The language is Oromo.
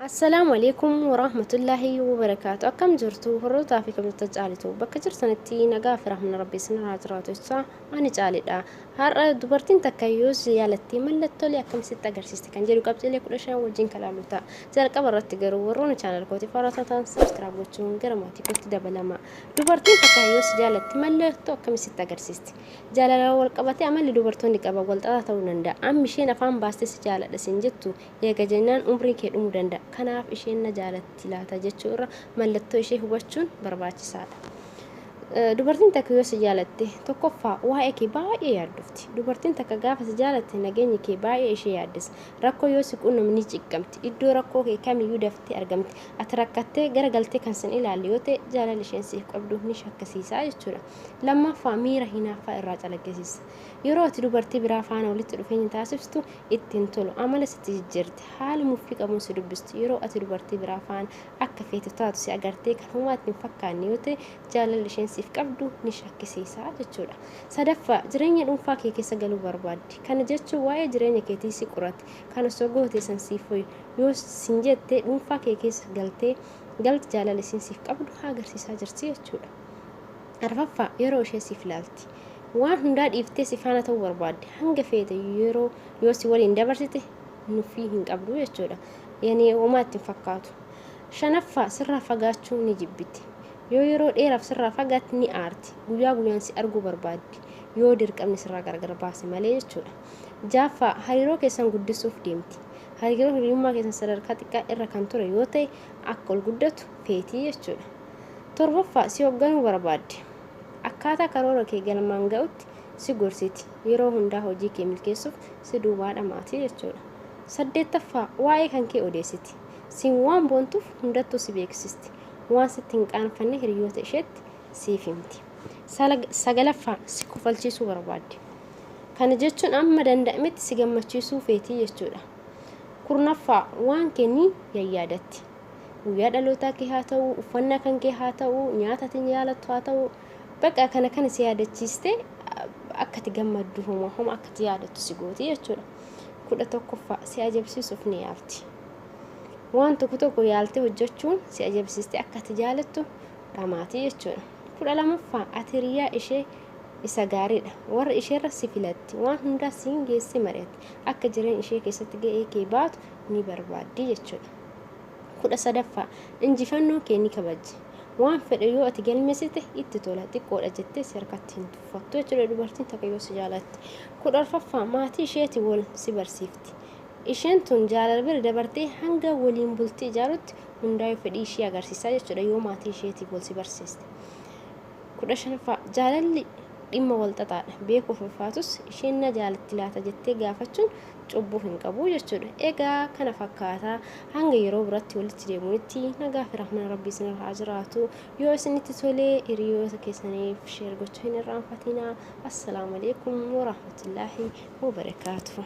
Assalaamu alaikum waraahmatullaahi wabarakaatu akkam jirtu horrootaa fi kabajata caalitu bakka jirtanitti nagaa fi rahmana rabbi isinirraa jiraatu jecha ani caalidha har'a dubartiin takka yoo si yaalattee mallattoolee akkamisitti agarsiiste kan jedhu qabxiilee kudha shan wajjin kalaalu ta'a jalqaba irratti garuu warroonni chaanal kootiif haaraa taatan sabskiraab gochuun gara maatii kootti dabalama dubartiin takka yoo si jaalatte mallattoo akkamisitti agarsiiste jaalalaa wal qabatee amalli dubartoonni qaban wal xaxaa ta'uu danda'a amma isheen afaan baastee si jaaladha siin jettu Eega jennaan umriin kee dhumu danda'a. Kanaaf isheen na jaalatti laata jechuu irra mallattoo ishee hubachuun barbaachisaadha. Dubartiin takka yoo si jaalatte tokkoffaa waa'ee kee baay'ee yaaddofti. Dubartiin takka gaafa si jaalatte nageenyi kee baay'ee ishee yaaddessa. Rakkoo yoo si quunnamu ni ciqamti. Iddoo rakkoo kee kamiyyuu daftee argamti. Ati rakkattee gara galtee kan sin ilaalle yoo ta'e jaalalli isheen siif qabdu ni shakkisiisa jechuudha. Lammaffaa miira hinaaffaa irraa calaqqisiisa. Yeroo ati dubartii biraa faana walitti dhufeenya taasiftu itti hin tolu. Amala sitti jijjiirti. Haala muffii qabuun si dubbistu. Yeroo ati dubartii biraa faana akka feetu taatu si agartee kan homaa itti hin fakkaanne yoo ta'e jaalalli isheen siif qabdu ni shakkisiisa jechuudha. Sadaffaa, jireenya dhuunfaa kee keessa galuu barbaaddi. Kana jechuun waa'ee jireenya keetii si qoratti. Kan osoo gootee san siif wayyu. Yoo sin jette dhuunfaa kee keessa galtee galti jaalala isiin siif qabdu agarsiisaa jirti jechuudha. Arfaffaa, yeroo ishee siif laalti. Waan hundaa dhiiftee si faana ta'uu barbaaddi. Hanga feete yeroo yoo si waliin dabarsite nuffii hin qabdu jechuudha. Yanee homaa itti hin fakkaatu. Shanaffaa, sirraa fagaachuu ni jibbiti. Yoo yeroo dheeraaf sirraa fagaatte ni aarti. Guyyaa guyyaan si arguu barbaaddi. Yoo dirqamni sirraa gargar baase malee jechuudha. Jaaffaa, hariiroo keessan guddisuuf deemti. Hariiroo hiriyummaa keessan sadarkaa xiqqaa irra kan ture yoo ta'e akka ol guddatu feeti jechuudha. Torbaffaa, si hogganuu barbaaddi. Akkaataa karoora kee galmaan ga'utti si gorsiti. Yeroo hundaa hojii kee milkeessuuf si duubaa dhamaati jechuudha. Saddeettaffaa, waa'ee kan kee odeessiti. Siin waan boontuuf hundattuu si beeksisti. Waan sitti hin qaanfanne hiriyoota isheetti siif himti. Sagalaffaa, si kofalchiisuu barbaaddi. Kana jechuun amma danda'ametti si gammachiisuu feetii jechuudha. Kurnaffaa, waan kee ni yayyaadatti. guyyaa dhalootaa kee haa ta'u uffannaa kan kee haa ta'u nyaata ati jaalattu haa ta'u bakka kana kana si yaadachiiste akka itti gammaddu homa homa akka itti yaadattu si gooti jechuudha. kudha tokkoffaa si ajabsiisuuf ni yaalti. Waan tokko tokko yaaltee hojjechuun si ajabsiiste akka itti jaalattu dhamaati jechuudha. kudha lamaffaa ati hiriyaa ishee isa gaariidha. Warra isheerra si filatti waan hundaa siin geessee mari'atti akka jireenya ishee keessatti ga'ee kee baatu ni barbaaddi jechuudha. 13ffaa Injifannoo kee ni kabajji. Waan fedhe yoo ati galmeessite itti tola, xiqqoodha jettee si harkatti hin tuffattu jechuudha dubartiin takka yoo si jaalatte. 14ffaa Maatii isheeti wal si barsiifti. Isheen tun jaalala bira dabartee hanga waliin bultii ijaarutti hundaayuu fedhii ishee agarsiisaa jechuudha yoo maatii isheetiif wal si barsiiste. 15ffaa, Jaalalli dhimma walxaxaadha. Beekuuf ulfaatus isheen na jaalatti laata jettee gaafachuun cubbuu hin qabu jechuudha. Egaa kana fakkaata. Hanga yeroo biratti walitti deemuunitti nagaa fi rahmana Rabbii isinirra haa jiraatu. Yoo isinitti tolee hiriyoota keessaniif sheer gochuu hin irraanfatinaa. Assalaamu alaikum wa rahmatullaahi wa barakaatuh.